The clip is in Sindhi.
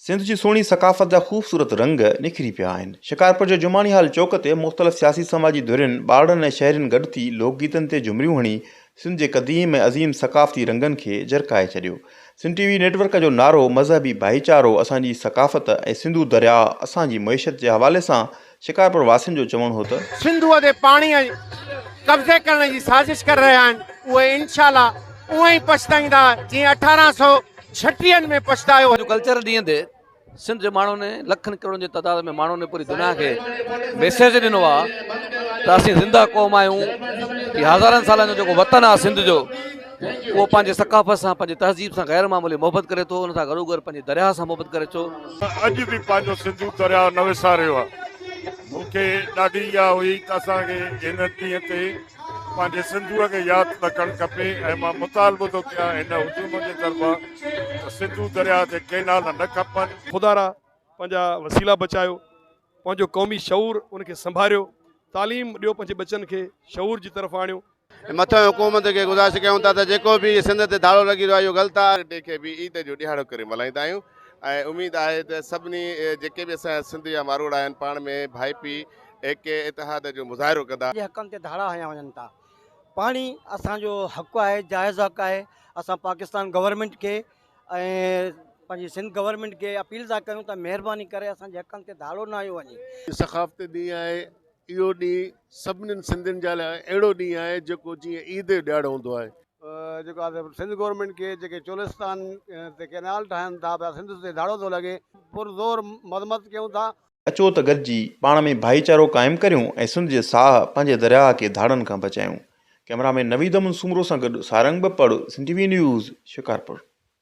سنڌ جي سهڻي ثقافت جا خوبصورت رنگ نکري پيا آهن. شڪارپور جي جماڻي هال چوڪ تي مختلف سياسي سماجي ڌرين، ٻارڙن ۽ شهرين گڏ ٿي لوڪ گيتن تي جهمريون هڻي سنڌ جي قديم ۽ عظيم ثقافتي رنگن کي جرڪائي ڇڏيو. Sindh T V network جو نعرو مذهبي ڀائيچارو اسان جي ثقافت ۽ سنڌو درياهه اسان جي معيشت جي حوالي سان شڪارپور واسين جو چوڻ هو ته. سنڌوء تي پاڻيء قبضي ڪرڻ جي سازش ڪري رهيا آهن اهي انشاء الله اونء ئي پڇتائيندا جيئن اٺارهن سؤ ڇٽيهن ۾ پڇتايو هيو. ايگريڪلچر ڏينهن تي سنڌ جي ماڻهن لکن ڪروڙن جي تعداد ۾ ماڻهن پوري دنيا کي ميسيج ڏنو آهي ته اسين زنده قوم آهيون هي هزارن سالن جو جيڪو وطن آهي سنڌ جو اهو پنهنجي ثقافت سان، پنهنجي تهذيب سان غير معمولي محبت ڪري ٿو، ان سان گڏوگڏ پنهنجي درياهه سان محبت ڪري ٿو. اڄ به پنهنجو سنڌو درياهه نه وساريو آهي. مون کي ڏاڍي اها هئي ته اسان کي هن ڏينهن تي پنهنجي سنڌوء کي ياد رکڻ کپي ۽ مان مطالبو ٿو ڪيان هن هجوم جي طرفان ته سنڌو درياهه تي ڪينال نه کپن. خدا را پنهنجا وسيلا بچايو. پنهنجو قومي شعور ان کي سنڀاريو تعليم ڏيو پنهنجي ٻچن کي شعور جي طرف آڻيو. مٿئين حڪومت کي گذارش ڪيون ٿا ته جيڪو به سنڌ تي ڌاڙو لڳي رهيو آهي اهو غلط آهي. ڊي کي به عيد جو ڏهاڙو ڪري ملهائيندا آهيون ۽ اميد آهي ته سڀني جيڪي به اسان جا سنڌ جا ماروئڙا آهن پاڻ ۾ ڀائپي ايڪي اتحاد جو مظاهرو ڪندا. جي حقن تي ڌاڙا هنيا وڃن ٿا پاڻي اسان جو حق آهي جائز حق آهي اسان پاڪستان گورنمينٽ کي ۽ پنهنجي سنڌ گورنمينٽ کي اپيل ٿا ڪيون ته مهرباني ڪري اسان جي حقن تي ڌاڙو نه هنيو وڃي. ثقافتي ڏينهن آهي، اهو ڏينهن سڀني سنڌين جي لاء اهڙو ڏينهن آهي جيڪو جيئن عيد جو ڏيهاڙو هوندو آهي. جيڪو آهي سو سنڌ گورنمينٽ کي جيڪي چولستان تي ڪئنال ٺاهن ٿا پيا سنڌ تي ڌاڙو ٿو لڳي پر زور مذمت ڪيون ٿا. اچو ته گڏجي پاڻ ۾ ڀائيچارو قائم ڪريون ۽ سنڌ جي ساهه پنهنجي درياهه کي ڌاڙن کان بچايون. ڪئميرا مين نويد امن سومرو سان گڏ Sarang Bapar Sindh T V news Shikarpur.